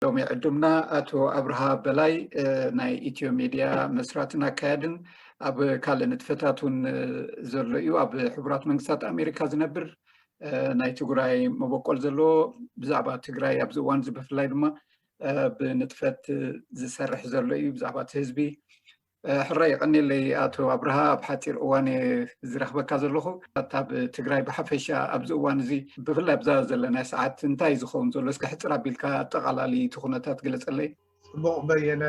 ሎሚ ዕዱምና ኣቶ ኣብርሃ በላይ ናይ ኢትዮ ሚድያ መስራትን ኣካያድን ኣብ ካልእ ንጥፈታት እውን ዘሎ እዩ ኣብ ሕቡራት መንግስታት ኣሜሪካ ዝነብር ናይ ትግራይ መበቆል ዘለዎ ብዛዕባ ትግራይ ኣብዚ እዋን እዚ ብፍላይ ድማ ብንጥፈት ዝሰርሕ ዘሎ እዩ ብዛዕባ እቲ ህዝቢ ሕራ የቀኒለይ ኣቶ ኣብርሃ ኣብ ሓፂር እዋን ዝረክበካ ዘለኹ ኣብ ትግራይ ብሓፈሻ ኣብዚ እዋን እዚ ብፍላይ ኣብዛ ዘለናይ ሰዓት እንታይ ዝኸውን ዘሎ እስከ ሕፅር ኣቢልካ ኣጠቃላሊ እቲ ኩነታት ግለፀለይ ፅቡቅ በየነ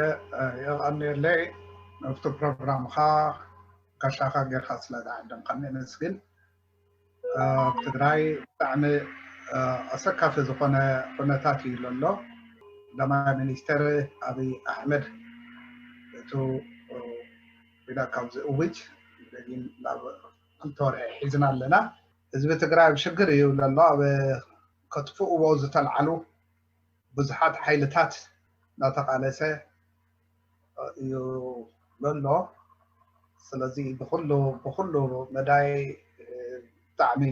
የቀኒለይ ኣብቲ ፕሮግራምካ ጋሻካ ጌርካ ስለ ዝዓደምካኒ የመስግን ኣብ ትግራይ ብጣዕሚ ኣሰካፊ ዝኾነ ኩነታት እዩ ዘሎ። ቀዳማይ ሚኒስተር ኣብይ ኣሕመድ እቱ ኲናት ካብ ዝእውጅ ደጊም ናብ ክልተ ወርሒ ሒዝና ኣለና። ህዝቢ ትግራይ ኣብ ሽግር እዩ ዘሎ። ኣብ ከጥፍእዎ ዝተልዓሉ ብዙሓት ሓይልታት እናተቓለሰ እዩ ዘሎ ስለዚ ብኩሉ ብኩሉ መዳይ ብጣዕሚ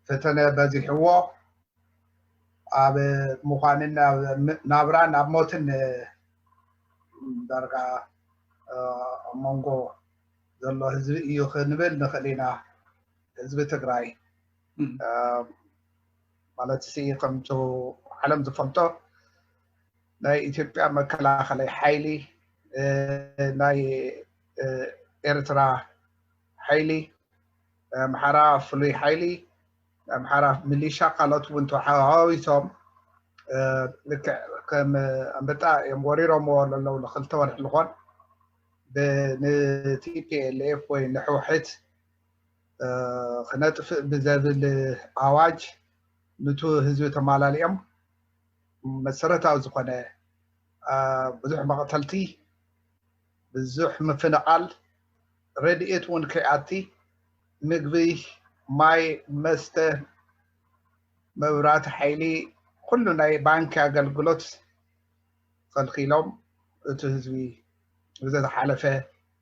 ፈተነ በዚሕዎ ኣብ ምዃንን ናብራን ኣብ ሞትን ዳርጋ ኣብ መንጎ ዘሎ ህዝቢ እዩ ክንብል ንኽእል ኢና ህዝቢ ትግራይ ማለት ሲ ከምቲ ዓለም ዝፈልጦ ናይ ኢትዮጵያ መከላኸለይ ሓይሊ ናይ ኤርትራ ሓይሊ ናይ ኣምሓራ ፍሉይ ሓይሊ ናይ ኣምሓራ ሚሊሻ ካልኦት እውን ተሓዋዊሶም ልክዕ ከም ኣንበጣ እዮም ወሪሮምዎ ለለው ንክልተ ወርሒ ዝኾን ንቲፒኤልኤፍ ወይ ንሕውሕት ክነጥፍእ ብዘብል ኣዋጅ ኑቲ ህዝቢ ተማላሊኦም መሰረታዊ ዝኾነ ብዙሕ መቕተልቲ፣ ብዙሕ ምፍንቓል፣ ረድኤት እውን ከይኣቲ ምግቢ፣ ማይ፣ መስተ፣ መብራህቲ፣ ሓይሊ ኩሉ ናይ ባንኪ ኣገልግሎት ኸልኪሎም እቲ ህዝቢ ብዘተሓለፈ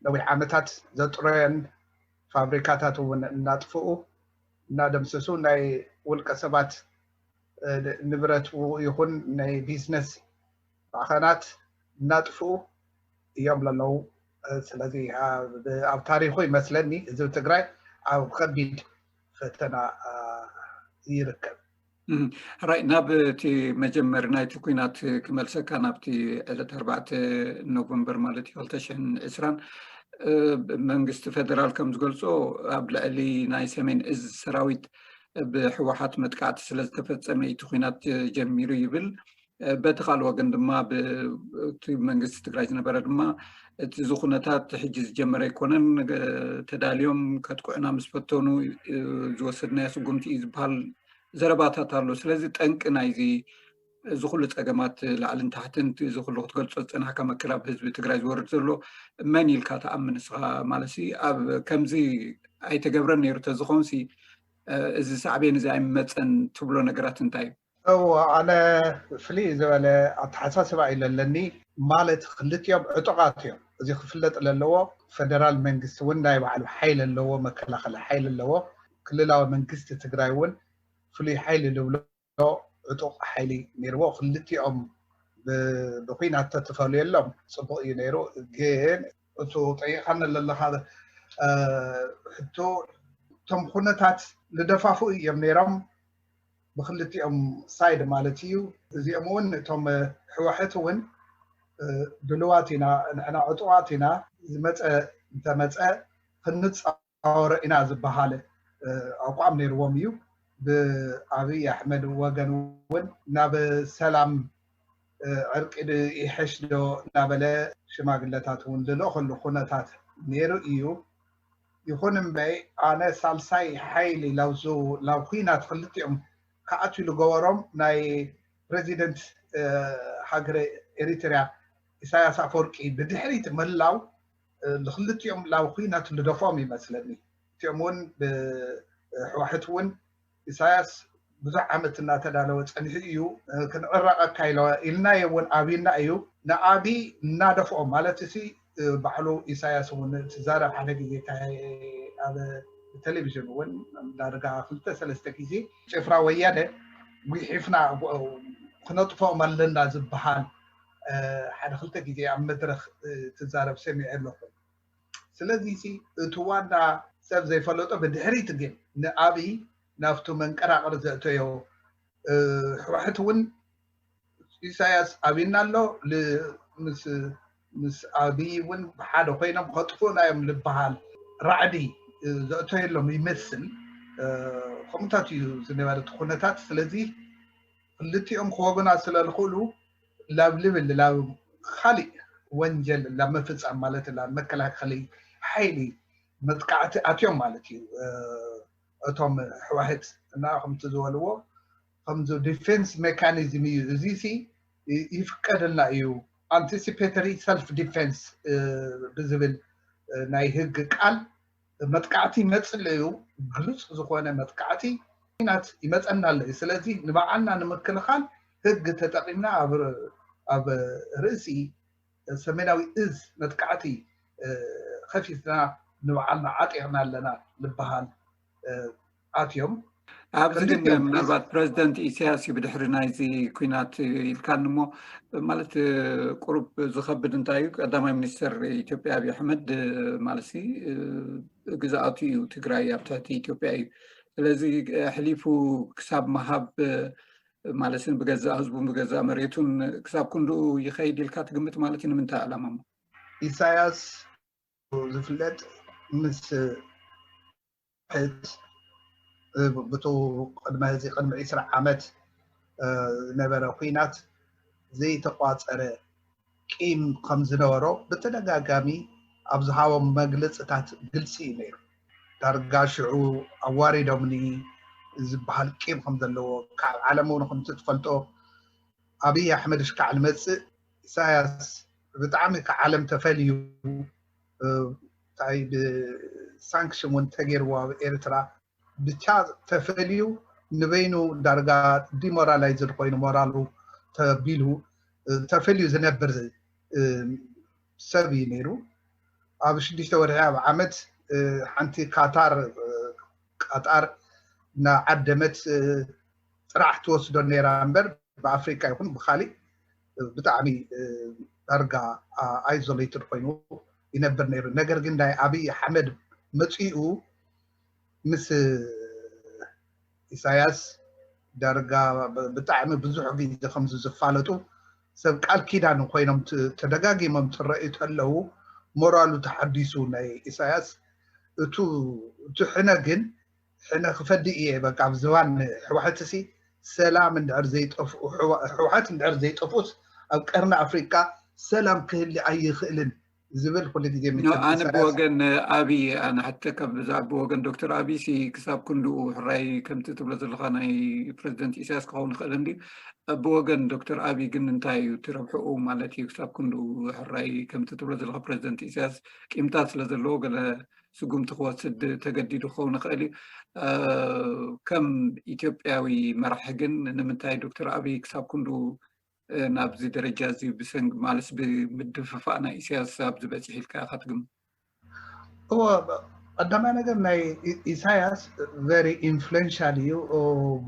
ነዊሕ ዓመታት ዘጥረዮን ፋብሪካታት እውን እናጥፍኡ እናደምሰሱ ናይ ውልቀ ሰባት ንብረት ይኹን ናይ ቢዝነስ ማዕኸናት እናጥፍኡ እዮም ለለዉ ስለዚ ኣብ ታሪኹ ይመስለኒ ህዝቢ ትግራይ ኣብ ከቢድ ፈተና ይርከብ ራይ ናብ እቲ መጀመሪ ናይቲ ኩናት ክመልሰካ ናብቲ ዕለት ኣርባዕተ ኖቨምበር ማለት እዩ ክልተ ሽሕን ዕስራን መንግስቲ ፌደራል ከም ዝገልፆ ኣብ ልዕሊ ናይ ሰሜን እዝ ሰራዊት ብሕወሓት መጥቃዕቲ ስለዝተፈፀመ እዩ እቲ ኩናት ጀሚሩ ይብል። በቲ ካልእ ወገን ድማ ብቲ መንግስቲ ትግራይ ዝነበረ ድማ እቲ እዚ ኩነታት ሕጂ ዝጀመረ ኣይኮነን ተዳልዮም ከጥቅዑና ምስ ፈተኑ ዝወሰድናዮ ስጉምቲ እዩ ዝበሃል ዘረባታት ኣሎ። ስለዚ ጠንቂ ናይዚ እዚ ኩሉ ፀገማት ላዕልን ታሕትን እቲ እዚ ኩሉ ክትገልፆ ዝፀናሕካ መከራ ኣብ ህዝቢ ትግራይ ዝወርድ ዘሎ መን ኢልካ ትኣምን ንስኻ ማለትሲ ኣብ ከምዚ ኣይተገብረን ነይሩ ተዝኾንሲ እዚ ሳዕቤን እዚ ኣይምመፀን ትብሎ ነገራት እንታይ እዩ? እወ ኣነ ፍልይ ዝበለ ኣተሓሳስባ እዩ ለለኒ ማለት ክልቲኦም ዕጡቓት እዮም እዚ ክፍለጥ ለለዎ ፈደራል መንግስቲ እውን ናይ ባዕሉ ሓይሊ ኣለዎ መከላኸሊ ሓይሊ ኣለዎ ክልላዊ መንግስቲ ትግራይ እውን ፍሉይ ሓይሊ ልብሎ ዶ ዕጡቕ ሓይሊ ነይርዎ ክልቲኦም ብኩናት ተትፈልየሎም ፅቡቕ እዩ ነይሩ ግን እቱ ጠይቓኒ ዘለኻ ሕቶ እቶም ኩነታት ልደፋፍኡ እዮም ነይሮም ብክልቲኦም ሳይድ ማለት እዩ እዚኦም እውን እቶም ሕዋሕት እውን ድልዋት ኢና ንሕና ዕጡቓት ኢና ዝመፀ እንተመፀ ክንፃ ኣወረ ኢና ዝበሃል ኣቋም ነይርዎም እዩ። ብኣብይ ኣሕመድ ወገን እውን ናብ ሰላም ዕርቂ ዶ ይሐሽ ዶ እናበለ ሽማግለታት እውን ዝልእኸሉ ኩነታት ነይሩ እዩ። ይኹን እምበይ ኣነ ሳልሳይ ሓይሊ ናብ ኹናት ኽልቲኦም ክኣትው ዝገበሮም ናይ ፕረዚደንት ሃገረ ኤሪትሪያ ኢሳያስ ኣፈወርቂ ብድሕሪት ምህላው ንክልቲኦም ላብ ኹናት ንደፍኦም ይመስለኒ እቲኦም እውን ብሕዋሕት እውን ኢሳያስ ብዙሕ ዓመት እናተዳለወ ፀኒሑ እዩ ክንዕረቐካ ኢልናዮ እውን ኣብና እዩ ንኣብይ እናደፍኦም ማለት እቲ ባዕሉ ኢሳያስ እውን ትዛረብ ሓደ ግዜ ኣብ ቴሌቪዥን እውን ዳርጋ ክልተ ሰለስተ ግዜ ጭፍራ ወያነ ጉሒፍና ክነጥፍኦም ኣለና ዝበሃል ሓደ ክልተ ግዜ ኣብ መድረኽ ትዛረብ ሰሚዐ ኣለኹ ስለዚ ሲ እቲ ዋና ሰብ ዘይፈለጦ ብድሕሪት ግን ንኣብይ ናብቱ መንቀራቕር ዘእተዮ ሕወሕት እውን ኢሳያስ ኣብና ኣሎ ምስ ኣብይ እውን ብሓደ ኮይኖም ከጥፍኡና እዮም ዝበሃል ራዕዲ ዘእተየሎም ይመስል ከምኡታት እዩ ዝነበረ እቲ ኩነታት ስለዚ ክልቲኦም ክወግና ስለ ዝኽእሉ ላብ ልብል ላብ ኻሊእ ወንጀል ላብ ምፍፃም ማለት ላብ መከላኸሊ ሓይሊ መጥቃዕቲ ኣትዮም ማለት እዩ እቶም ሕዋህት እና ከምቲ ዝበልዎ ከምዚ ዲፌንስ ሜካኒዝም እዩ እዚ ሲ ይፍቀደልና እዩ ኣንቲሲፔተሪ ሰልፍ ዲፌንስ ብዝብል ናይ ህግ ቃል መጥቃዕቲ መፅለዩ ግሉፅ ዝኾነ መጥቃዕቲ ኲናት ይመፀና ኣሎ እዩ። ስለዚ ንባዕልና ንምክልኻል ህግ ተጠቒምና ኣብ ርእሲ ሰሜናዊ እዝ መጥቃዕቲ ኸፊትና ንባዕልና ዓጢቕና ኣለና ልበሃል። ኣትዮም ኣብዚ ግን ምናልባት ፕረዚደንት ኢሳያስ እዩ ብድሕሪ ናይዚ ኩናት ኢልካኒ እሞ ማለት ቁሩብ ዝከብድ እንታይ እዩ ቀዳማይ ሚኒስትር ኢትዮጵያ ኣብዪ ኣሕመድ ማለት ግዝኣቱ እዩ ትግራይ ኣብ ትሕቲ ኢትዮጵያ እዩ ስለዚ ኣሕሊፉ ክሳብ መሃብ ማለት ብገዛእ ህዝቡን ብገዛእ መሬቱን ክሳብ ክንድኡ ይኸይድ ኢልካ ትግምት ማለት እዩ ንምንታይ ዕላማ ሞ ኢሳያስ ዝፍለጥ ምስ ብቱ ቅድመ እዚ ቅድሚ ዕስራ ዓመት ዝነበረ ኩናት ዘይተቋፀረ ቂም ከም ዝነበሮ ብተደጋጋሚ ኣብ ዝሃቦም መግለፅታት ግልፂ እዩ ነይሩ። ዳርጋ ሽዑ ኣዋሪዶምኒ ዝበሃል ቂም ከም ዘለዎ ካብ ዓለም እውን ከምቲ ትፈልጦ ኣብዪ ኣሕመድ እሽካዕ ዝመፅእ ኢሳያስ ብጣዕሚ ካብ ዓለም ተፈልዩ ታይ ብሳንክሽን ውን ተገይርዎ ኣብ ኤርትራ ብቻ ተፈልዩ ንበይኑ ዳርጋ ዲሞራላይዝድ ኮይኑ ሞራሉ ተቢሉ ተፈልዩ ዝነብር ሰብ እዩ ነይሩ ኣብ ሽዱሽተ ወርሒ ኣብ ዓመት ሓንቲ ካታር ቃጣር ናዓደመት ጥራሕ ትወስዶ ነይራ እምበር ብኣፍሪካ ይኹን ብካሊእ ብጣዕሚ ዳርጋ ኣይዞለይትድ ኮይኑ ይነብር ነይሩ ነገር ግን ናይ ኣብይ ኣሕመድ መፅኡ ምስ ኢሳያስ ዳርጋ ብጣዕሚ ብዙሕ ግዜ ከምዚ ዝፋለጡ ሰብ ቃል ኪዳን ኮይኖም ተደጋጊሞም ትረእዩ ተለው ሞራሉ ተሓዲሱ ናይ ኢሳያስ እቱ እቲ ሕነ ግን ሕነ ክፈዲ እየ በቃ ኣብ ዝባን ሕዋሕት ሲ ሰላም እንድሕር ዘይጠፍኡ ሕዋሕት እንድሕር ዘይጠፍኡስ ኣብ ቀርኒ ኣፍሪቃ ሰላም ክህሊ ኣይኽእልን ዝብል ኩሉ ግዜ ኣነ ብወገን ኣብይ ኣነ ሓተካ ብዛዕባ ብወገን ዶክተር ኣብይ ሲ ክሳብ ክንድኡ ሕራይ ከምቲ ትብሎ ዘለካ ናይ ፕረዚደንት ኢሳያስ ክኸውን ይኽእል እንዲ ብወገን ዶክተር ኣብይ ግን እንታይ እዩ ትረብሕኡ ማለት እዩ ክሳብ ክንድኡ ሕራይ ከምቲ ትብሎ ዘለካ ፕረዚደንት ኢሳያስ ቂምታት ስለ ዘለዎ ገለ ስጉምቲ ክወስድ ተገዲዱ ክኸውን ይኽእል እዩ ከም ኢትዮጵያዊ መራሒ ግን ንምንታይ ዶክተር ኣብይ ክሳብ ክንዱ ናብዚ ደረጃ እዚ ብሰንኪ ማለስ ብምድፍፋእ ናይ ኢሳያስ ኣብዚ በፂሒ ኢልካ ኢኻ ትግምት እወ ቀዳማይ ነገር ናይ ኢሳያስ ቨሪ ኢንፍሉንሻል እዩ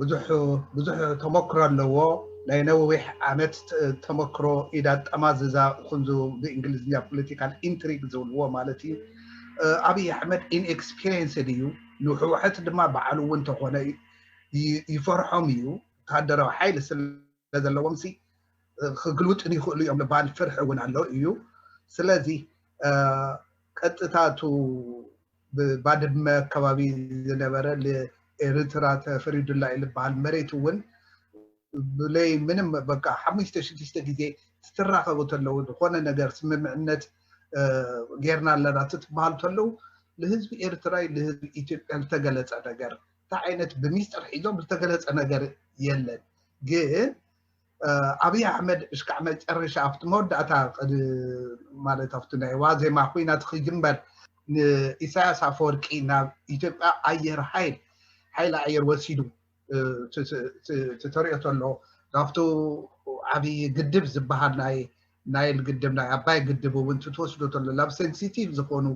ብዙሕ ብዙሕ ተመክሮ ኣለዎ ናይ ነዊሕ ዓመት ተመክሮ ኢዳ ጠማዝዛ ክንዙ ብእንግሊዝኛ ፖለቲካል ኢንትሪግ ዝብልዎ ማለት እዩ ኣብይ ኣሕመድ ኢንኤክስፒሪንስድ እዩ ንሕወሐት ድማ በዓሉ እውን ተኾነ ይፈርሖም እዩ ወታደራዊ ሓይሊ ስለዘለዎም ሲ ክግልውጥን ይኽእሉ እዮም ልባል ፍርሒ እውን ኣሎ እዩ ስለዚ ቀጥታቱ ብባድመ ኣካባቢ ዝነበረ ኤርትራ ተፈሪዱላ እዩ ዝበሃል መሬት እውን ብለይ ምንም በቃ ሓሙሽተ ሽዱሽተ ግዜ ትራኸቡ ተለው ዝኾነ ነገር ስምምዕነት ጌርና ኣለና ትትበሃሉ ተለው ልህዝቢ ኤርትራይ ልህዝቢ ኢትዮጵያ ዝተገለጸ ነገር እንታይ ዓይነት ብሚስጥር ሒዞም ዝተገለጸ ነገር የለን ግን ኣብይ ኣሕመድ እሽካዕ መጨረሻ ኣብቲ መወዳእታ ማለት ኣብቲ ናይ ዋዜማ ኩናት ክጅመር ንኢሳያስ ኣፈወርቂ ናብ ኢትዮጵያ ኣየር ሓይል ሓይሊ ኣየር ወሲዱ ተሪኦ ተሎ ካብቲ ዓብይ ግድብ ዝበሃል ናይ ናይል ግድብ ናይ ኣባይ ግድብ እውን ትትወስዶ ተሎ ናብ ሴንሲቲቭ ዝኾኑ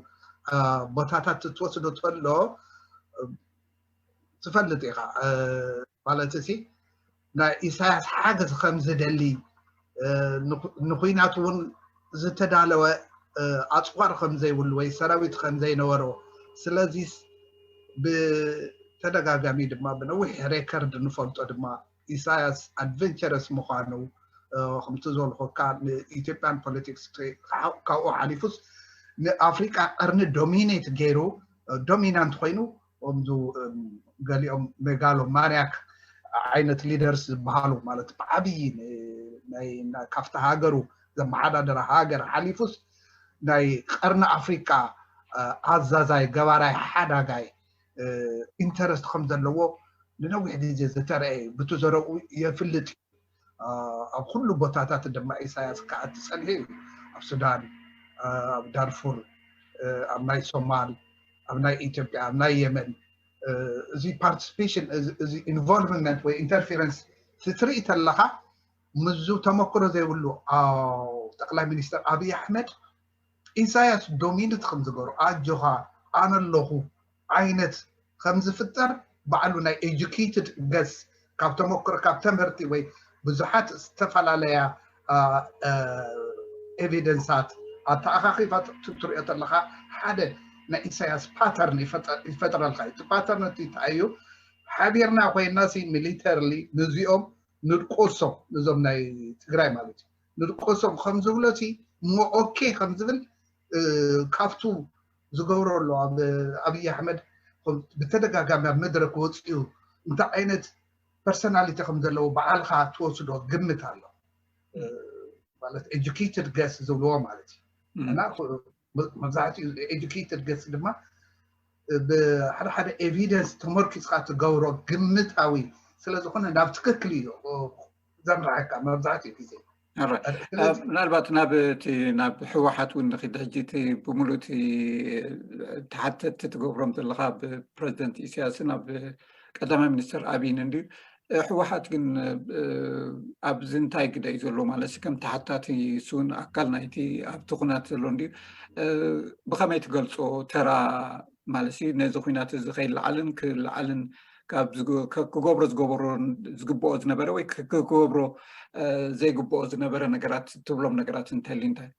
ቦታታት ትትወስዶ ተሎ ትፈልጥ ኢኻ ማለት ሲ ናይ ኢሳያስ ሓገዝ ከምዝደሊ ንኩናት እውን ዝተዳለወ ኣፅዋር ከምዘይብሉ ወይ ሰራዊት ከምዘይነበሮ ስለዚ ብተደጋጋሚ ድማ ብነዊሕ ሬከርድ ንፈልጦ ድማ ኢሳያስ ኣድቨንቸረስ ምኳኑ ከምቲ ዝበልኩካ ንኢትዮጵያን ፖለቲክስ ካብኡ ሓሊፉስ ንኣፍሪቃ ቀርኒ ዶሚኔት ገይሩ ዶሚናንት ኮይኑ ከምዚ ገሊኦም ሜጋሎ ማንያክ ዓይነት ሊደርስ ዝበሃሉ ማለት ብዓብዪ ካብቲ ሃገሩ ዘመሓዳደራ ሃገር ሓሊፉስ ናይ ቀርኒ ኣፍሪቃ ኣዛዛይ ገባራይ ሓዳጋይ ኢንተረስት ከም ዘለዎ ንነዊሕ ግዜ ዝተረእየ ብቲ ዘረብኡ የፍልጥ እዩ ኣብ ኩሉ ቦታታት ድማ ኢሳያስ ክዓቲ ፀንሔ እዩ ኣብ ሱዳን ኣብ ዳርፉር ኣብ ናይ ሶማል ኣብ ናይ ኢትዮጵያ ኣብ ናይ የመን እዚ ፓርቲስፔሽን እዚ ኢንቮልቭመንት ወይ ኢንተርፌረንስ ትርኢ ተለካ ምዙ ተመክሮ ዘይብሉ ጠቅላይ ሚኒስትር ኣብይ ኣሕመድ ኢሳያስ ዶሚኒት ከም ዝገበሩ ኣጆኻ ኣነ ኣለኹ ዓይነት ከም ዝፍጠር ባዕሉ ናይ ኤጁኬትድ ገስ ካብ ተመክሮ ካብ ተምህርቲ ወይ ብዙሓት ዝተፈላለያ ኤቪደንሳት ኣተኣኻኺባ ትሪኦ ተለኻ ሓደ ናይ ኢሳያስ ፓተርን ይፈጥረልካ እዩ። እቲ ፓተርን እቲ እንታይ እዩ? ሓቢርና ኮይና ሲ ሚሊተርሊ ንዚኦም ንድቆሶም ንዞም ናይ ትግራይ ማለት እዩ ንድቆሶም ከም ዝብሎ ሲ እሞ ኦኬ ከም ዝብል ካብቱ ዝገብሮ ኣሎ ኣብ ኣብይ ኣሕመድ ብተደጋጋሚ ኣብ መድረክ ወፅኡ እንታይ ዓይነት ፐርሰናሊቲ ከም ዘለዎ በዓልካ ትወስዶ ግምት ኣሎ ማለት ኤጁኬትድ ገስ ዝብልዎ ማለት እዩ እና መብዛሕትኡ ኤጁኬትድ ገስ ድማ ብሓደ ሓደ ኤቪደንስ ተመርኪፅካ ትገብሮ ግምታዊ ስለዝኾነ ናብ ትክክል እዩ ዘምርሐካ መብዛሕትኡ ግዜ ምናልባት ናብ እቲ ናብ ህወሓት እውን ንክድ ሕጂ እቲ ብምሉእ እቲ ተሓተቲ ትገብሮም ዘለካ ብ ፕረዚደንት ኢሳያስን ኣብ ቀዳማይ ሚኒስትር ኣብይን እንድዩ ህወሓት ግን ኣብዚ እንታይ ግደ እዩ ዘሎ ማለት ከም ተሓታቲ ስውን ኣካል ናይቲ ኣብቲ ኩናት ዘሎ እንድዩ ብከመይ ትገልፆ ተራ ማለት ነዚ ኩናት እዚ ከይለዓልን ክለዓልን ክገብሮ ዝገበሮ ዝግብኦ ዝነበረ ወይ ክገብሮ ዘይግብኦ ዝነበረ ነገራት ትብሎም ነገራት እንተልዩ እንታይ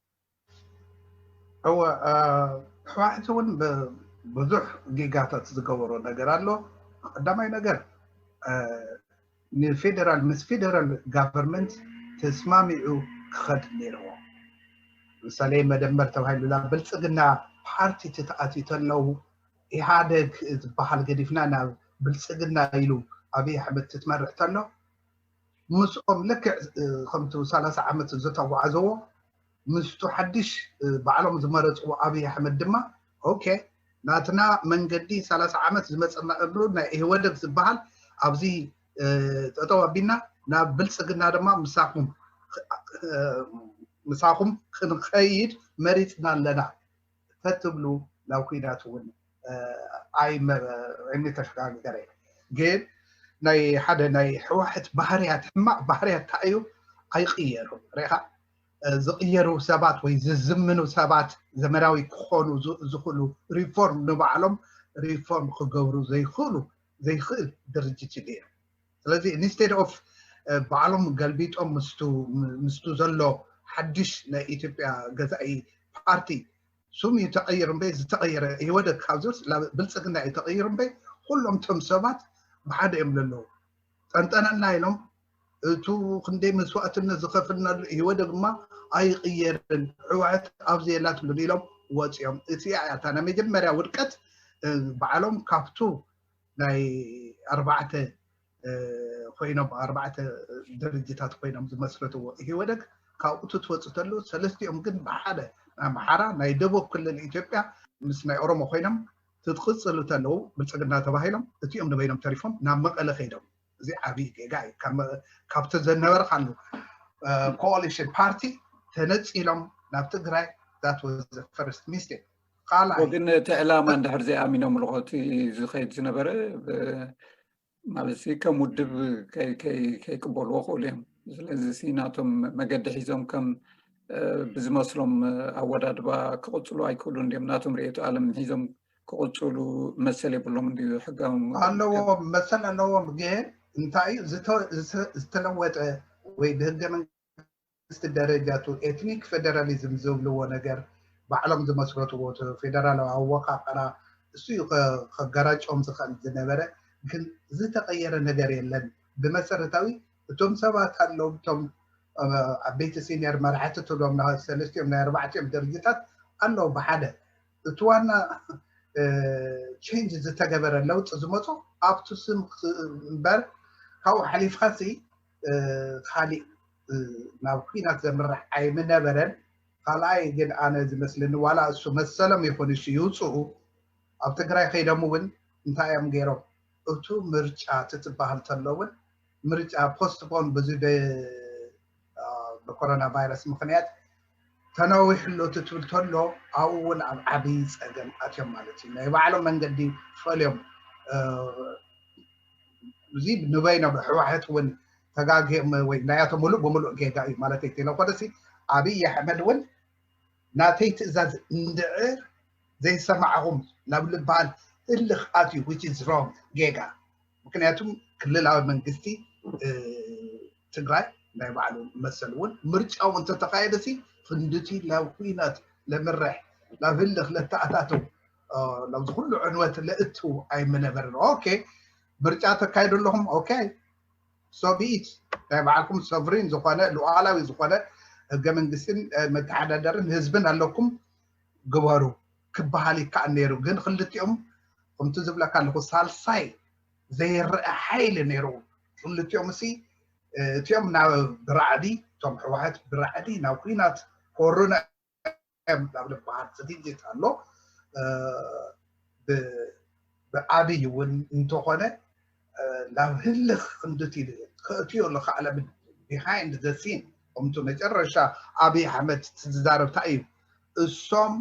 እወ ሕዋሕቲ እውን ብዙሕ ጌጋታት ዝገበሮ ነገር ኣሎ ቀዳማይ ነገር ንፌደራል ምስ ፌደራል ጋቨርንመንት ተስማሚዑ ክኸድ ነይርዎ ምሳሌ መደመር ተባሂሉላ ብልፅግና ፓርቲ ትትኣትዩ ተለው ኢህኣደግ ዝበሃል ገዲፍና ናብ ብልፅግና ኢሉ ኣብይ ኣሕመድ ትትመርሕ ተሎ ምስኦም ልክዕ ከምቲ ሰላሳ ዓመት ዘተጓዕዘዎ ምስቱ ሓድሽ ባዕሎም ዝመረፅዎ ኣብይ ኣሕመድ ድማ ኦኬ ናትና መንገዲ ሰላሳ ዓመት ዝመፀናሉ ናይ ኢህወደግ ዝበሃል ኣብዚ ጠጠው ኣቢልና ናብ ብልፅግና ድማ ምሳኹም ምሳኹም ክንኸይድ መሪፅና ኣለና ተትብሉ ናብ ኩናት እውን ኣይምተሸጋገረ ግን ናይ ሓደ ናይ ሕዋሕት ባህርያት ሕማቅ ባህርያት እንታይ እዩ ኣይቅየሩ ሪኢካ ዝቅየሩ ሰባት ወይ ዝዝምኑ ሰባት ዘመናዊ ክኾኑ ዝኽእሉ ሪፎርም ንባዕሎም ሪፎርም ክገብሩ ዘይኽእሉ ዘይኽእል ድርጅት እዩ ነይሩ ስለዚ ኢንስቴድ ኦፍ ባዕሎም ገልቢጦም ምስቱ ዘሎ ሓድሽ ናይ ኢትዮጵያ ገዛኢ ፓርቲ ስም እዩ ተቐይሩ እምበይ ዝተቐየረ ኢህወደግ ካብዚስ ብልፅግና እዩ ተቐይሩ እምበይ ኩሎም ቶም ሰባት ብሓደ እዮም ዘለዉ ጠንጠነና ኢሎም እቱ ክንደይ መስዋእትነት ዝኸፍልናሉ ኢህወደግ ድማ ኣይቕየርን ሕወሓት ኣብዚ የላትሉን ኢሎም ወፂኦም እቲኣ እያ እታ ናይ መጀመርያ ውድቀት ባዕሎም ካብቱ ናይ ኣርባዕተ ኮይኖም ኣርባዕተ ድርጅታት ኮይኖም ዝመስረትዎ ኢህወደግ ካብኡ ትወፅእ ተሎ ሰለስቲኦም ግን ብሓደ ናይ ኣምሓራ ናይ ደቡብ ክልል ኢትዮጵያ ምስ ናይ ኦሮሞ ኮይኖም ትቅፅሉ ተለው ብልፅግና ተባሂሎም እቲኦም ንበይኖም ተሪፎም ናብ መቐለ ከይዶም እዚ ዓብዪ ጌጋ እዩ ካብቲ ዘነበርካሉ ኮሊሽን ፓርቲ ተነፂሎም ናብ ትግራይ ዛት ወዘ ፈርስት ሚስቴክ ካልኣይ ግን እቲ ዕላማ እንድሕር ዘይኣሚኖምሉ እቲ ዝኸይድ ዝነበረ ማለት ከም ውድብ ከይቅበልዎ ክእሉ እዮም ስለዚ ሲናቶም መገዲ ሒዞም ከም ብዝመስሎም ኣወዳድባ ክቕፅሉ ኣይክእሉን ድም ናቶም ርእየቱ ኣለም ሒዞም ክቕፅሉ መሰል የብሎም እንዲ ሕጋዊ ኣለዎም መሰል ኣለዎም ግን እንታይ ዝተለወጠ ወይ ብህገ መንግስቲ ደረጃ እቱ ኤትኒክ ፌደራሊዝም ዝብልዎ ነገር ባዕሎም ዝመስረትዎ እቱ ፌደራላዊ ኣወቃቅራ እሱ እዩ ከጋራጮም ዝክእል ዝነበረ ግን ዝተቀየረ ነገር የለን ብመሰረታዊ እቶም ሰባት ኣለው እቶም ዓበይቲ ሲኒየር መራሕቲ ትብሎም ናይ ሰለስቲኦም ናይ ኣርባዕቲኦም ድርጅታት ኣለው ብሓደ እቲ ዋና ቼንጅ ዝተገበረ ለውጢ ዝመፆ ኣብቱ ስም እምበር ካብኡ ሓሊፍካ ሲ ካሊእ ናብ ኲናት ዘምርሕ ኣይምነበረን። ካልኣይ ግን ኣነ ዝመስለኒ ዋላ እሱ መሰሎም ይኹን እሺ ይውፅኡ ኣብ ትግራይ ከይዶም እውን እንታይ እዮም ገይሮም እቱ ምርጫ ትትባሃል ተሎ እውን ምርጫ ፖስትፖን ብዚ ብኮሮና ቫይረስ ምኽንያት ተናዊሑ ኣሎ ትብል ተሎ ኣብኡ እውን ኣብ ዓብይ ፀገም ኣትዮም ማለት እዩ ናይ ባዕሎም መንገዲ ፈልዮም እዚ ንበይኖም ህወሓት እውን ተጋጊዮም ወይ ናያቶም ሙሉእ ብሙሉእ ጌጋ እዩ ማለት እንተይኮነሲ ኣብይ ኣሕመድ እውን ናተይ ትእዛዝ እንድዕር ዘይሰማዕኹም ናብ ልበሃል እልኽ ኣትዩ which is wrong ጌጋ ምክንያቱም ክልላዊ መንግስቲ ትግራይ ናይ ባዕሉ መሰል እውን ምርጫው እንተተካየደ ሲ ክንድቲ ናብ ኩናት ለምርሕ ናብ ህልኽ ለተኣታቱ ናብዚ ኩሉ ዕንወት ለእቱ ኣይምነበርን ኦኬ ምርጫ ተካይዱ ኣለኹም ኦኬ ሶብኢት ናይ ባዕልኩም ሶቭሪን ዝኾነ ሉዓላዊ ዝኾነ ህገ መንግስትን መተሓዳደርን ህዝብን ኣለኩም ግበሩ ክበሃል ይከኣል ነይሩ ግን ክልቲኦም ከምቲ ዝብለካ ኣለኹ ሳልሳይ ዘይረኣ ሓይሊ ነይሩ ክልቲኦም እሲ እቲኦም ናብ ብራዕዲ እቶም ሕወሓት ብራዕዲ ናብ ኩናት ኮሩና እዮም ናብ ዝበሃል ዝግጅት ኣሎ ብኣብይ እውን እንተኾነ ናብ ህልኽ ክንድቲ ከእትዮ ኣሎ ካዕለ ቢሃይንድ ዘ ሲን ከምቲ መጨረሻ ኣብይ ኣሕመድ ዝዛረብ እንታይ እዩ እሶም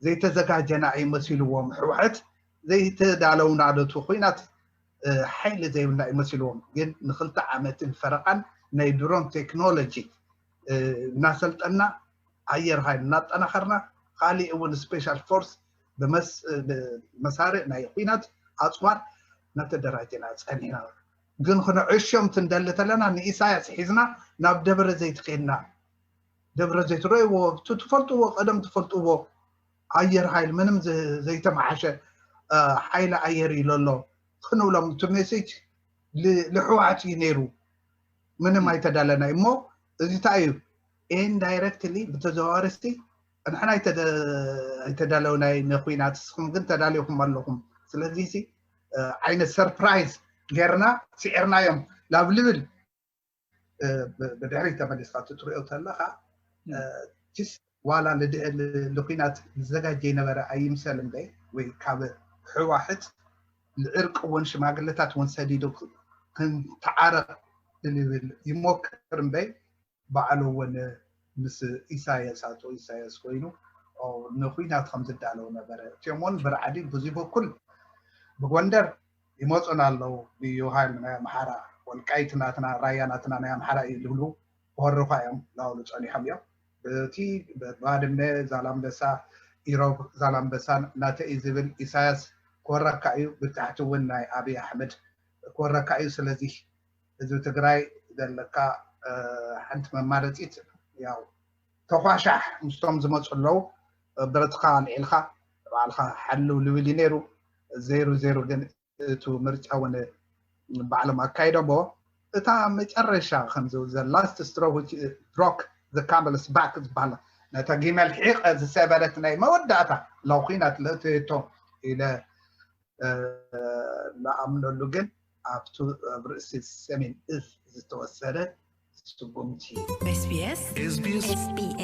ዘይተዘጋጀና እዩ መሲልዎም ሕወሐት ዘይተዳለውና ነቱ ኩናት ሓይሊ ዘይብልና እዩ መሲልዎም ግን ንክልተ ዓመትን ፈረቓን ናይ ድሮን ቴክኖሎጂ እናሰልጠና ኣየር ሃይል እናጠናኸርና ካሊእ እውን ስፔሻል ፎርስ ብመሳርዕ ናይ ኩናት ኣፅዋር ናተደራጀና ፀኒሕና ግን ክነዕሾም ትንደሊ ተለና ንኢሳያስ ሒዝና ናብ ደብረ ዘይት ኬድና ደብረ ዘይት ረይዎ እቲ ትፈልጥዎ ቀደም ትፈልጥዎ ኣየር ሃይል ምንም ዘይተመሓሸ ሓይሊ ኣየር እዩ ለሎ ክንብሎም እቲ ሜሴጅ ልሕወሓት እዩ ነይሩ ምንም ኣይተዳለናይ እሞ እዚ እንታይ እዩ ኢንዳይረክትሊ ብተዘዋዋሪ ንሕና ኣይተዳለውናይ ንኩናት ንስኹም ግን ተዳሊኹም ኣለኹም ስለዚ ሲ ዓይነት ሰርፕራይዝ ጌርና ስዒርናዮም ናብ ልብል ብድሕሪ ተመሊስካ ትትሪኦ ተለካ ቲስ ዋላ ንኩናት ዝዘጋጀ ነበረ ኣይምሰል እምበ ወይ ካብ ሕዋሕት ንዕርቂ እውን ሽማግለታት እውን ሰዲዱ ክንተዓረቕ ይሞክር እምበይ ባዕሉ እውን ምስ ኢሳያስ ኣቶ ኢሳያስ ኮይኑ ንኩናት ከም ዝዳለው ነበረ። እቲኦም እውን ብራዕዲ ብዙይ በኩል ብጎንደር ይመፁና ኣለው ልዩ ሃይል ናይ ኣምሓራ ወልቃይት ናትና ራያ ናትና ናይ ኣምሓራ እዩ ዝብሉ ክወሩኻ እዮም እናበሉ ፀኒሖም እዮም። እቲ ባድመ ዛላምበሳ ኢሮብ ዛላምበሳን ናተይ እዩ ዝብል ኢሳያስ ክወረካ እዩ ብታሕቲ እውን ናይ ኣብይ ኣሕመድ ክወረካ እዩ ስለዚህ ህዝቢ ትግራይ ዘለካ ሓንቲ መማረፂት ያው ተኳሻሕ ምስቶም ዝመፁ ኣለው ብረትካ ኣልዒልካ ባዕልካ ሓልው ልብል እዩ ነይሩ ዘይሩ ዘይሩ ግን እቱ ምርጫ እውን ባዕሎም ኣካይዶሞ እታ መጨረሻ ከምዚ ዘላስት ስትሮክ ዘካመለስ ባክ ዝበሃል ነታ ጊመል ሒቀ ዝሰበረት ናይ መወዳእታ ለው ኩናት ለእትየቶ ኢለ ንኣምነሉ ግን ኣብቱ ኣብ ርእሲ ሰሜን እዝ ዝተወሰደ ስጉምቲ እዩ። SBS SBS SBS